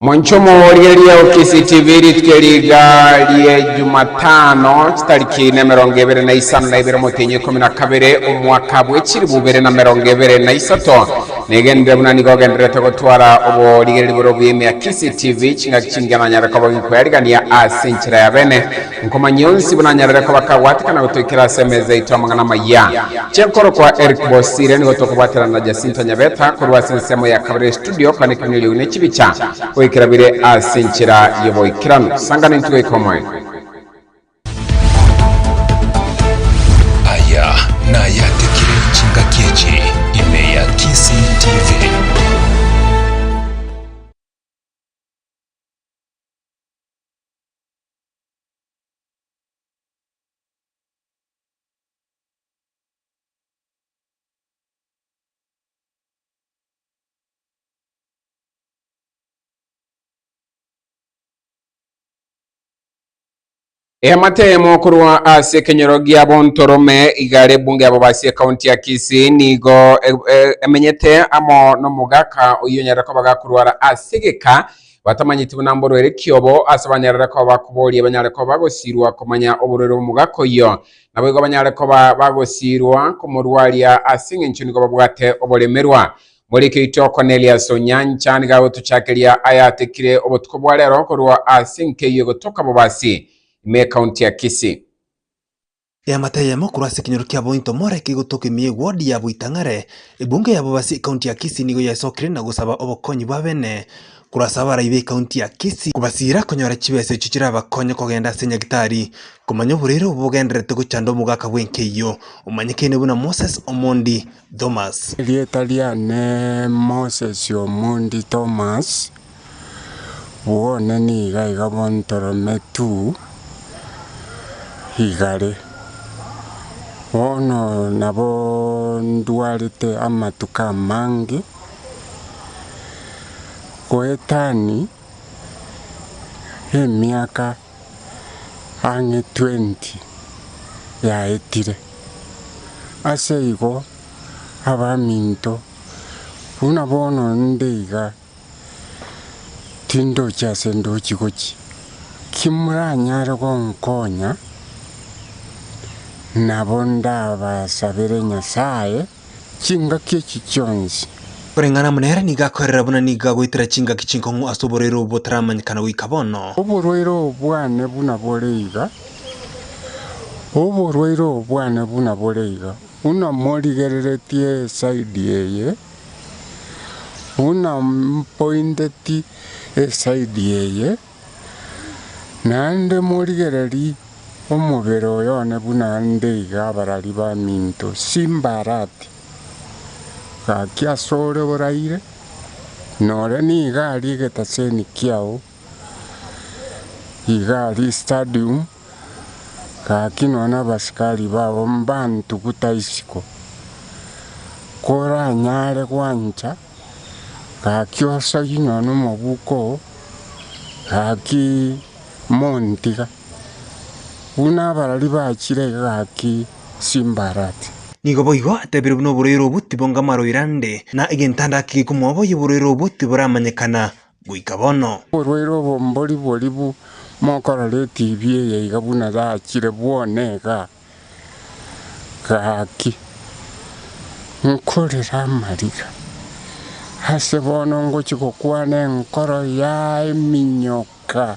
Mwanchomo riaria o KC TV rituko riga rie Jumatano chitariki na emerongo ebere na isano na ibere omotenyi ikomi na kabere omwaka bw'echiri bubere na merongo ebere na isato negenderere buna nigo ogendererete gotwara oborigereri bore obuya ime ya KC TV chingaki chingiya nanyare koba ginkoyarigania ase enchera ya bene Nkomanyia onsi buna anyarere koba kagwatikana gotoikera ase emeza yaito amang'ana amaya. Chenkoro kwa Eric Bosire nigo tokobwaterana na Jacinta Nyabeta korwa ase ensemo ya kabere ya Studio kane kiminyoriogi ne chibicha goikera bire ase enchera y'oboikeranu. Sangana intwe goika omoerio. Aya nayatikire chingaki echi ime ya Kisii TV. Eamatemo korwa ase ekenyoro gia Bontorome igare bunge abo base ekaunti ya Kisii nigo e- e- emenyete amo nomogaka oyio onyare koba gakorwara ase egeka batamanyeti buna mborwe ere kiobo, ase banyarare koba bakoboria banyare koba bagosiirwa komanya oborwaire bw'omogaka oyio, naboigo banyare koba bagosiirwa komorwaria ase engencho nigo babwate oboremerwa. Moriki oito Cornelius Onyancha nigo agotochakeria ayatekire obotuko bwa rero korwa ase enkeyu egotoka Bobasi ime ekaunti ya Kisii. Eamate eyemo korwa ase ekenyoro kiabo into more kegotoka ime y'egwodi yabo itang'are. Ebungo ya Bobasi ekaunti ya Kisii nigo yaesokire na gosaba obokonyi bw'abene korwa ase abarai b'ekaunti ya Kisii, kobasiira konyora chibesa echio chirabakonye kogenda ase nyagitari komanya oborwaire obo bogendererete gochanda omogaka bw'enkeiyo omanyekene buna Moses Omondi. Thomas. Erieta riane Moses Omondi Thomas, bwone niga iga bontorome tu igare. Bono nabo ndwarete amatuko amange goetani emiaka. ang'e twenty yaetire. Ase igo abaminto, buna bono inde iga, tindochi ase ndochi gochi. Kimoranyare gonkonya, nabo ndabasabere Nyasae. chingaki echi chionsi. Koreng'ana amo nere nigo akoerera buna nigo agoitera chingaki chinkong'u ase oborwaire obo botaramanyekana goika bono. Oborwaire obo bwane buna bore iga, oborwaire obo bwane buna bore iga, buna morigereretie esaidi eye, buna mpointeti esaidi eye. Naende morigererie omobere oyone buna nde iga abarari baminto Simbarati, gaki asore oraire, nore nigo aria egetaseni kiao, iga aria stadium, gaki nonya abasikari bao mbantuguta isiko, koranyare gwancha. Gaki osagi nonya nomobuko oo, gaki montiga, buna abarari bachire iga gaki chimbarati. Nigo boigo atebire buna oborwaire obwo tibongama roira nde, na egento ande ake gekomoa boigo oborwaire obwo tiboramanyekana. goika bono. Oborwaire obo mbori boribu mokorora etibi eye iga buna yachire bwone iga. Gaki nkorera amariga ase bono ngochia gokwana enkoro ya eminyoka.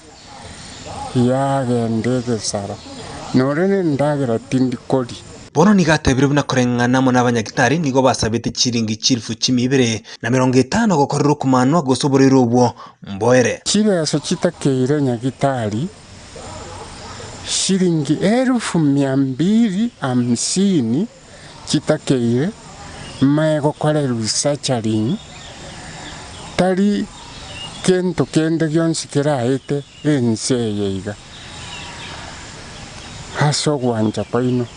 yagenda egesaro, nore nendagera tindi koria. Bono nigo atebirie buna koreng'ana amo nabanyagitari nigo basabete chiringi chilifu chimia ibere na merongo etano gokorera okomanwa gose oboreiro obwo mboere. Chibeesa chitakeire nyagitari shiringi elifu mia mbiri hamsini. chitakeire mae gokorerwa surgery, tari gento kende gionsi keraete ense eye iga, ase ogwancha kwaino,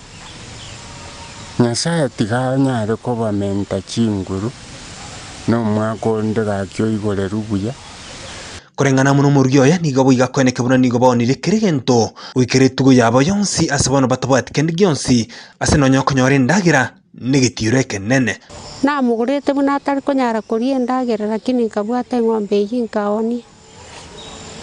Nyasae tiga anyare kobamenta chinguru na omwaka onde gaki oigoreru buya. Koreng'ana amo n'omoruya oye, nigo boiga kweneke buna nigo baonire kera egento goika ritugo yabo yonsi, ase bono batabwati kende gionsi Ase nonya okonyora endagera negetiiro ekenene. Namogorete buna atari konyara koria endagera, lakini nkabwata eng'ombe eyio inkaoonia.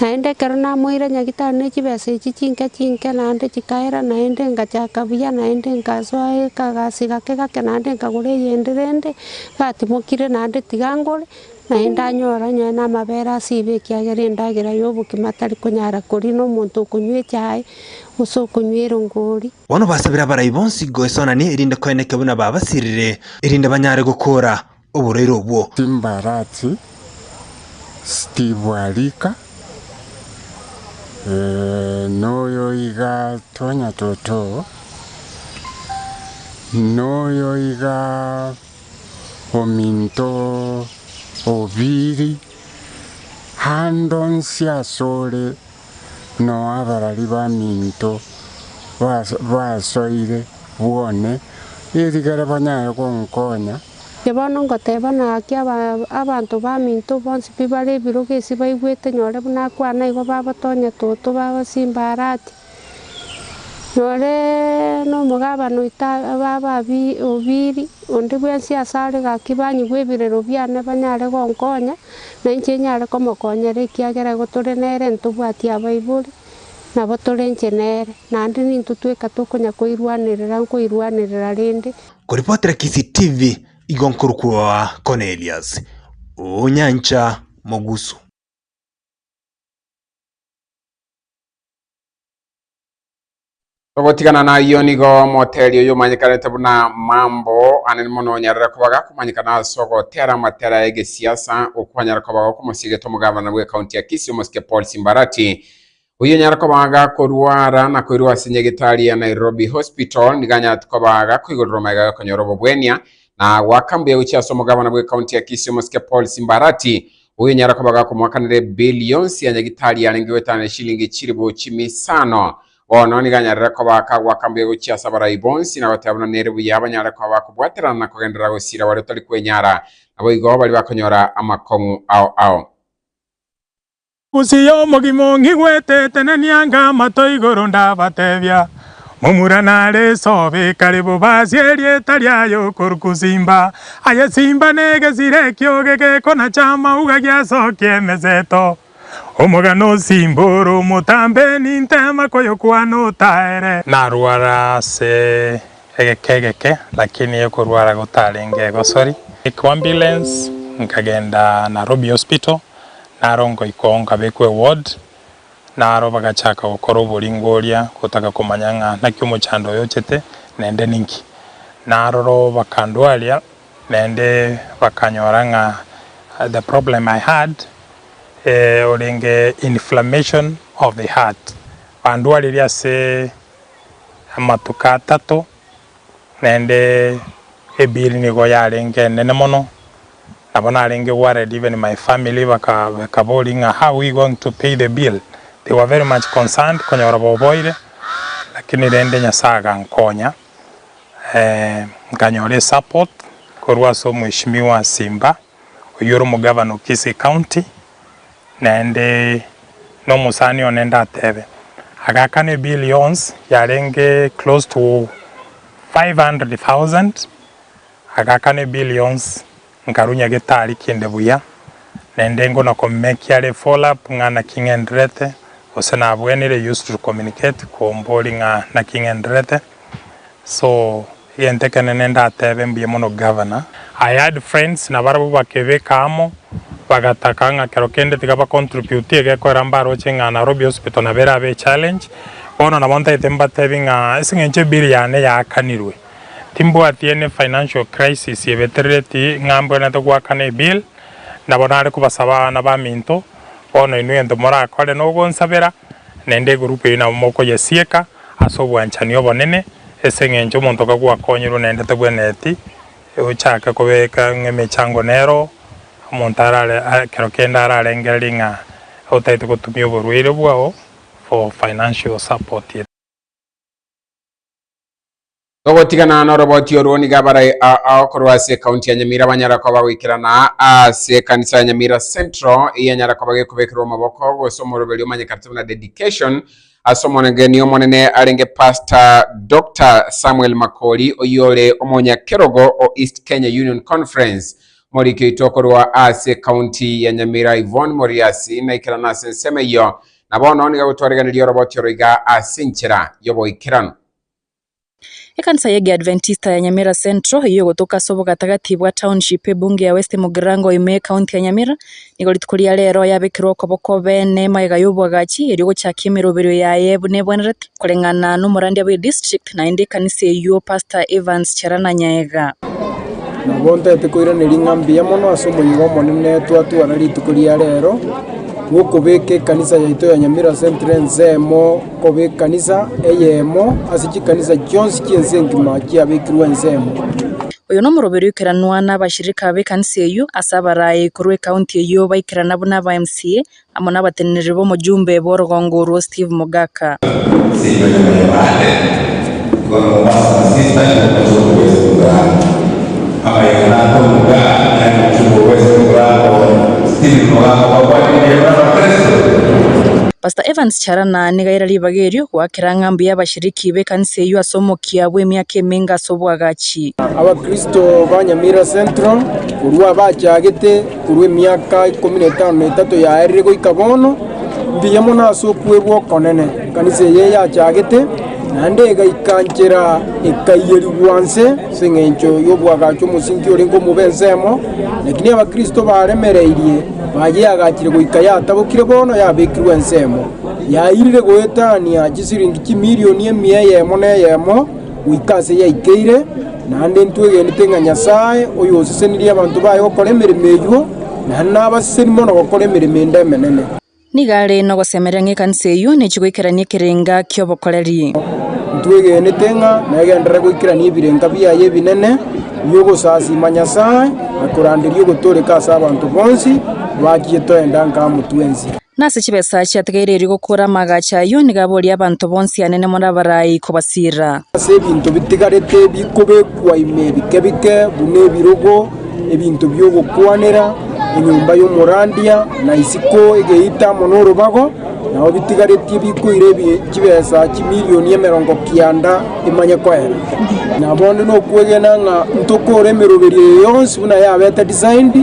Naende ekero namoeire nyagitari ne chibesa echi chinke chinke naende chikaera, naende ngachaka buya, naende nkasoa ekaagasi gake gake naende nkagora eyende rende, ngatimokire naende tiga ngore. Naende anyore onye namabere ase ibe ekiagera endagera y'obokima tari konyara koria nomonto okonywa echae, gose okonywa erongori. Bono basabire abarai bonsi goesonani erinde koeneke buna babasirire, erinde banyare gokoora oborwaire obwo. Chimbarasi chitibwa rika, noyo iga twanya toto, noyo iga. ominto obiri andonsi asore noabarari baminto basoire bwone erigere banyare gonkonya. Inche bono ngoteba naki abanto baminto bonsi pi bare ebirogo esi baigwete nyore buna akwana igo babotonya toto babasimba arati Nore nomogabane oito abe ababiri, onde bwensi asare gaki banyigwe ebirero biane banyare gonkonya, na inche nyare komokonyera ekiagera igo tore nere ntobwati abaibori, nabo tore inche nere, naende nintwe tweka tokonya koirwanerera nkoirwanerera rende. Koripotera Kisii TV igo nkorokwoa Cornelius Onyancha Mogusu. Togotigana nayio nigo omoteli oyo omanyekanete buna Mambo anene mono onyarera kobaga komanyekana ase ogotera amatera ya egesiasa okwanyara kobaga okomosiegete omogavana bwe county ya Kisii omosike Paul Simbarati oyo onyara kobaga korwara na koirwa ase nyagetari ya Nairobi Hospital nigo anyarete kobaga koigorera omayega ya konyora obobwenia na goaka mbuya gochia ase omogavana bwe county ya Kisii omosike Paul Simbarati Oyo nyara koba gakomoakanera ebeli yonsi ya nyagitari arenge goetana neshilingi chilifu chimisano, bono nigo anyarere koba akagoaka mbuya gochia ase abarai bonsi, na goteba buna nere buya abanyare koba bakobwaterana na kogenderera gosiira baria otari kwenyara, naboigo baria bakonyora amakong'u ao ao. Gose yo omogima ong'igwete, tenenia ng'a amato igoro ndabatebia, Momura nare esobe kare bobe ase erieta riaye okoru kusimba, aye simba negesira ekioge gekonacha amauga giasokia emeseto. Omogano osimbe ore omotambe nintema koyokwana otaere. Narwara ase egeka egeke lakini ekorwara gotarenge egosori. Kwa ambulance nkagenda Narobi hospital naro ngoikwa oo nkabekwa eward Na aro bagachaka gokora oboringo oria, gotaka komanya ng'a naki omochando oyo ochete nende ninki. Na aroro bakandwaria, naende bakanyora ng'a the problem I had eh, orenge inflammation of the heart. Bandwaririe ase amatuko atato. Naende Ebiri nigo yarenge enene mono, nabo narenge worried even my family bakaboria ng'a how we going to pay the bill, they were very much concerned konyora boboire, lakini rende Nyasaye agankonya nkanyora esupport korwa ase omheshimiwa Simba. oyore omogavana o Kisii County, naende nomosani one ndatebe, agakana ebill yonsi yarenge close to 500,000, agakana ebill yonsi nkarunya getari kinde buya, naende engo na komekia are follow up ng'a naki ng'enderete, gose nabwenire used to communicate kombori ng'a naki ng'enderete, so. Egento ekenene ndatebe mbuya mono Governor. I had friends na barabwo bakebeka amo bagataka ng'a kero kende tiga ba contribute egekorera mbaroche ng'a Nairobi Hospital nabo erabe e challenge. Bono nabo ntaete mbatebie ng'a ase eng'encho ebill yane yaakanirwe timbwati any financial crisis ebeterereti ng'a mbwenerete goakana ebill. Nabo nare kobasaba abana baminto bono inwe egento morakore nogonsabera naende egroup eyio nabo mokoyesieka. Ase obwanchani obonene, ase engencho omonto kaku akonyorwe naende tabwenereti ochake kobeka emechango nero, omonto arare ekero kende ararengererie ng'a otagete gotumia oborwaire bwao for financial support. Togotiganana noroboti orwo nigo abarai aao korwa ase ekaunti ya Nyamira banyara koba bagoikerana ase ekanisa ya Nyamira Central eya nyara koba gekobekerwa amaboko gose omoroberi omanyekate buna Dedication ase omogeni omonene arenge Pastor Doctor Samuel Makori oyore omonyakerogo o East Kenya Union Conference Moriki oito okorwa ase ekaunti ya Nyamira Yvonne Moriasi naikerana ase ensemo eyio na bono niga gotwareganeria oroboti oro iga ase enchera yoboikeranu. Ekanisa y'egeadventista ya Nyamira Central, eyio egotoka ase obogatagati bwa township ebunge ya West Mugirango ime ecounty ya Nyamira, nigo rituko ria rero yabekerwa okoboko obeene magega y'oboagachi erio gochakia emeroberio yaye buna ebwenerete koreng'ana n'omorandia bwe district naende ekanisa eyio Pastor Evans Cherana Nyaega. Nabo ntaete koiraneria ng'a mbuya mono ase omoyega omonene twatwara rituko ria rero bw'okobeka ekanisa yaito ya Nyamira Central ensemo. Koba ekanisa eyemo ase chikanisa chionsi chi'ense engima chiabekirwe ensemo. Oyo nomoroberio oikeranwa nabashirika b'ekanisa eyio ase abaraai korwa ekaunti eyio baikerana buna aba MCA amo nabatenenereri b'omojumbe bw'orogongo orwo Steve Mogaka. Pastor Evans. Chara na nigo aira ribaga erio goakera ng'a mbuya abashiriki b'ekanisa eyio ase omokia bw'emiaka emenge ase obwagachi. Abakristo ba Nyamira Central korwa abachagete korwa emiaka ikomi na etano na etato yaerire goika bono, mbuya mono ase okwerwa okonene. Ekanisa eye yachagete naende egaika nchera ekaiyerigwa nse ase engencho y'obwagachi omosinki orenge omobe ensemo, lakini abakristo baremereirie Naye yagachire goika yatabokire bono yabekirwe ensemo, yairire goetania chisiringi chimilioni emia eyemo neyemo goika aase yaikeire, naende ntwegenete ng'a Nyasae oyosesenirie abanto baye gokora emeremo eyio, naende nabaseseni mono gokora emeremo ende emenene. Nigo are nogosemeria ng'a ekanisa eyio nechi goikerania ekerenga ki'obokoreri. Ntwegenete ng'a negenderere goikerania ebirenga biaye ebinene bi'ogosasiima Nyasae na koranderia ogotooreka ase abanto bonsi bachiete oenda nka motwensi. Na ase chibesa chiatigaireiri gokora amaagacho ayio nigo aboria abanto bonsi anene more abarai kobasiira. Ase ebinto bitigarete bikobekwa ime bike bike, buna ebirogo, ebinto bi'ogokwanera enyomba y'omorandia, na isiko egeita amo n'orobago, na abo bitigaretie bikoire chibesa chimilion emerongo kianda emanye koera. Na bonde nokwegena ng'a ntokore emeroberio eye yonsi buna yabete designed,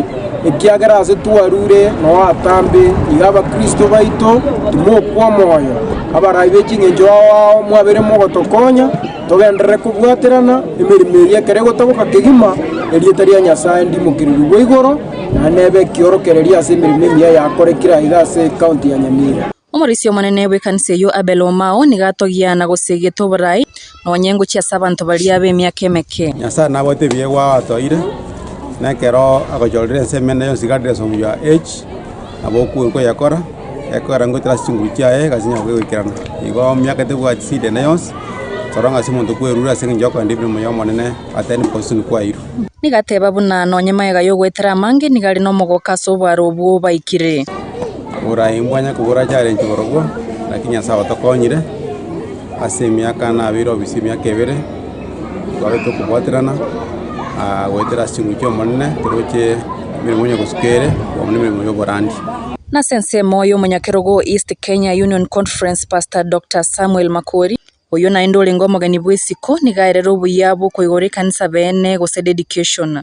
ekiagera ase twarure noatambe iga abakristo baito timokwa moyo, abarai be ching'encho ao ao mwabere mogotokonya, Togenderere kobwaterana emeremo eria ekero egotoboka kegima, erieta ria Nyasae ndimokererigwe igoro, naende nebe ekiorokererio ase emeremo emiya yakorekire aiga ase ekaunti ya Nyamira. Omoroisia omonene bw'ekanisa eyio Abel Omao nigo atogia na gosegeta oborai nonya engochi ase abanto baria b'emiaka emeke. Nyasae nabwate ebiegwa atoire, na ekero agochorire ense emene yonsi Gades omuya H. Nabo okoe nkoyekora, ekogera ngoetera ase chinguru chiaye, egasi enyare koegoikerana. Igo emiaka tebwati sida ende yonsi, toro ng'a ase omonto kwerure ase engencho y'okorenda ebibe omoyo omonene, atari bosemi kwairwe. Nigo ateba buna nonye magega y'ogoetera amange nigo are nomogoka ase obwaro obwo obaikire. Oboraai mbwanya kobura challenge borobwo, lakini Nyasae otokonyire, ase emiaka nabeire obisa emiaka ebere. Twagete okobwaterana goetera ase chinguru chi'Omonene, toroche emeremo onye gosuka ere, kobaamuna emeremo y'oborandia. Nase ensemo y'omonyakerogo o East Kenya Union Conference Pastor Doctor Samuel Makori, oyio naende orenge omogeni bw'isiko, niga aerere obuya bw'okoigora ekanisa beene gose dedication.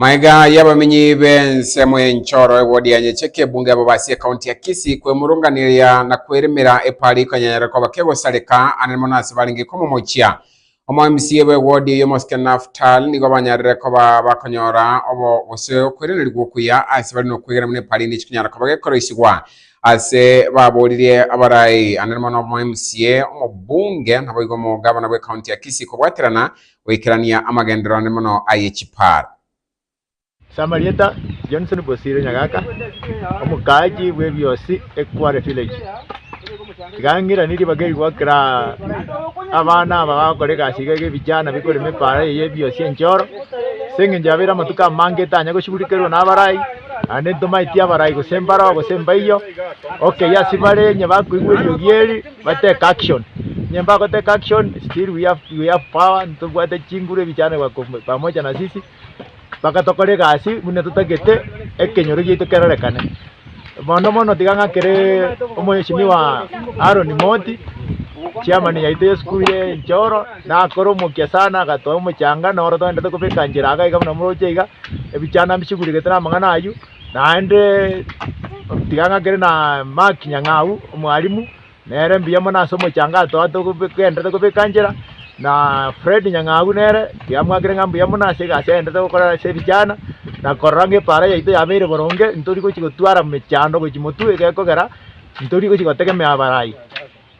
Magega y'abamenyi b'ensemo y'enchoro egodianye chekebunga abo base ekaunti ya Kisii kwemurunganeria na kweremera epara ikonyanyara koba kegosareka anene mono ase barenge komomochia. Omo mca obo egodi eye omosike Naphtal nigo banyarire koba bakonyora obo gose okwerenerigwa okuya ase bare nokwegena buna epara ende chikonyara koba gekoroisigwa ase baboririe abarai anene mono omo mca, omobunge naboigo omogabana bw'ekaunti ya Kisii kobwaterana goikerania amagenderero ane mono aye chipaaro. Ase amarieta, Johnson Bosire Nyagaka, omokaachi bw'ebiosi Ekware Village. Iga ng'irani ribaga eri gokera abana aba bagokora egasi iga y'ebijana bikorema epaara eye y'ebiosi enchoro, ase eng'encho yabeire amatuko amange etanya gosigurekerwa nabarai, naende ntomaeti abarai gose mbaroo gose mbaiyo, okeyia ase bare onye bakoigwa eriogi eri. But take action. Onye mbako take action, still we have, we have power, ntobwate chinguru ebichanegwa kom- pamoja na sisi, mpaka tokore egasi buna totagete ekenyoro giaito kerorekane. Mono mono tiga ng'akere omweshimiwa Aaron Moti, chairman yaito y'esukuru ye Enchoro, nakore omokia sana agatoa omochanga, noro togende tokobeka nchera iga iga buna moroche iga, ebichanda mbisiguregete namang'ana aywo, Naende tiga ng'akere na Mark Nyang'au, omwalimu, nere mbuya mono ase omochangato oye togenderete kobeka nchera, na Fred Nyang'au nere tiga mwakere ng'a mbuya mono ase egasi agenderete gokora ase ebijana, na korora ng'a epaara yaito yabeire boronge, ntori gochi gotwara mechando gochi Motwu iga ekogera, ntori gochi gotegemea abarai.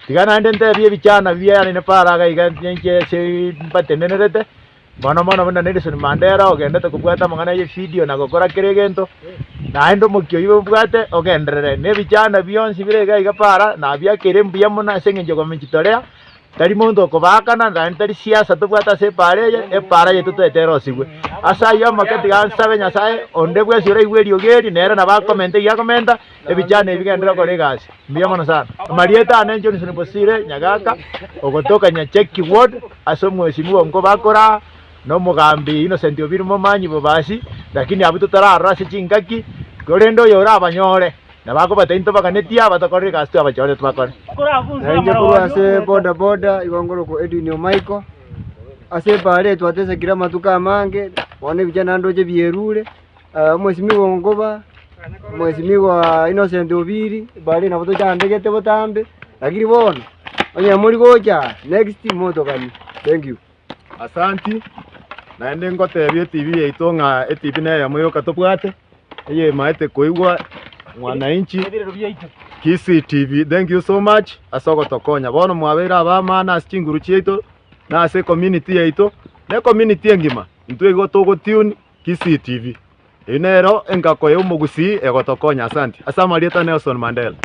Tiga naende ntebie ebijana biaye nere para iga ninche ase mbatendenerete. Mono mono buna Nelson Mandela ogendete kobwata amang'ana ye video na gokora kera egento, naende omokia oyio obwate ogenderere na ebichanda bionsi bire iga iga para nabia kere mbuya mono ase eng'encho ya komechitolea, tari monto okobaakana naende tari siasa tobwate ase epaara eye, epaara yeito toete erosigwe. Ase ayio amake tiga nsabe Nyasae onde bwensi oraigwe eriogi eri nere nabo akomente iga akomenta, Ebichano ebi bigenderere gokora egasi mbuya mono sana. Amarieta ane Johnson Bosire Nyagaka ogotoka Nyacheki Ward ase omwesinwa oo nkobakoraa na omogambi Innocent Obiri Momanyi Bobasi lakini abwo totararora ase chingaki korende oyo orabanyore nabo akobataini tobaganetie abatokorera egasi twabachorete bakore. Na inche korwa ase boda boda igo ngorokwa Edwin Omaiko. Ase ebaare eye twatesekire amatuko amange bono ebichani naende oche bierure. Omwesimigwa o Nkuba, Omwesimigwa Innocent Obiri, bare nabo tochandegete botambe, lakini bono onye mori gocha aa, next motoganie. Thank you. Asanti, naende ngotebia etibi yaito ng'a etibi neyemo yoka tobwate, eyemaete koigwa Mwananchi, Kisii TV, thank you so much ase ogotokonya. Bono mwabeire abamano ase chinguru chiaito, na ase ecommunity yaito, na ecommunity engima, intwe igo togo tune Kisii TV. Eyio nero engako ya omogusii egotokonya asanti. Ase amarieta Nelson Mandela.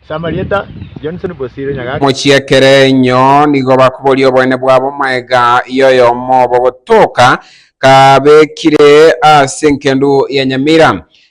Ase amarieta Johnson Bosire Nyagaki. Mochiakere inyo nigo bakoboria oboene bwabo maega ya oyomo obo gotoka kabekire ase enkendu ya Nyamira.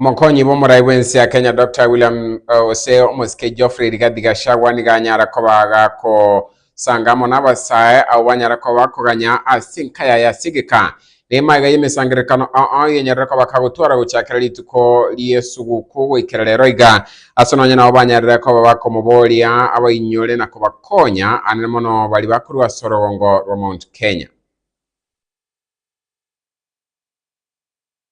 Omokonyi bw'omorai bw'ense ya Kenya Doctor William ose omosike Geoffrey Rigathi Gachagua nigo anyara koba agakosanga amo nabasae abwo banyara koba bakoganya ase enka yaye ase egeka neema iga y'emesangererekano oo yenyorere koba kagotwara gochakera rituko ri'esuguku goikera rero iga ase nonye nabo banyarire koba bakomoboria abainyore na kobakonya anene mono bari bakorwa ase orogongo rwa Mount Kenya.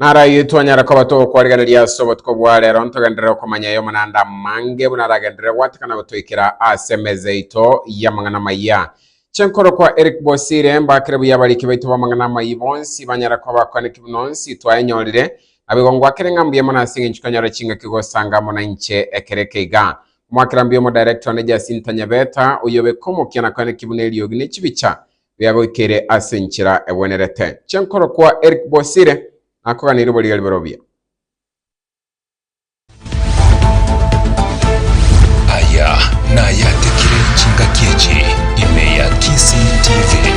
Naragie twanyare koba togokorigereria ase obotuko bwa rero, ntogenderere okomanya ay'omonande amange buna aragenderere goatakana gotoikera ase emeza yaito y'amang'ana amaya. Chenkoro kwa Eric Bosire, Mbakere buya abariki baito b'amang'ana amayia bonsi banyare koba abakoneki buna onsi twayenyorire. Naboigo ngoakere ng'a mbuya mono ase eng'encho tonyora chingaki gosanga amo nainche ekero eke iga. Ngoakera mbuya Omodirector one Jacinta Nyabeta, oyio obe komokia nakoeneki buna eriogi ne chibicha biagoikire ase enchera egwenerete. Chinkoro kwa Eric Bosire nakogana rirobo riria riborobio. Aya nayatekire chingaki echi ime ya Kisii TV.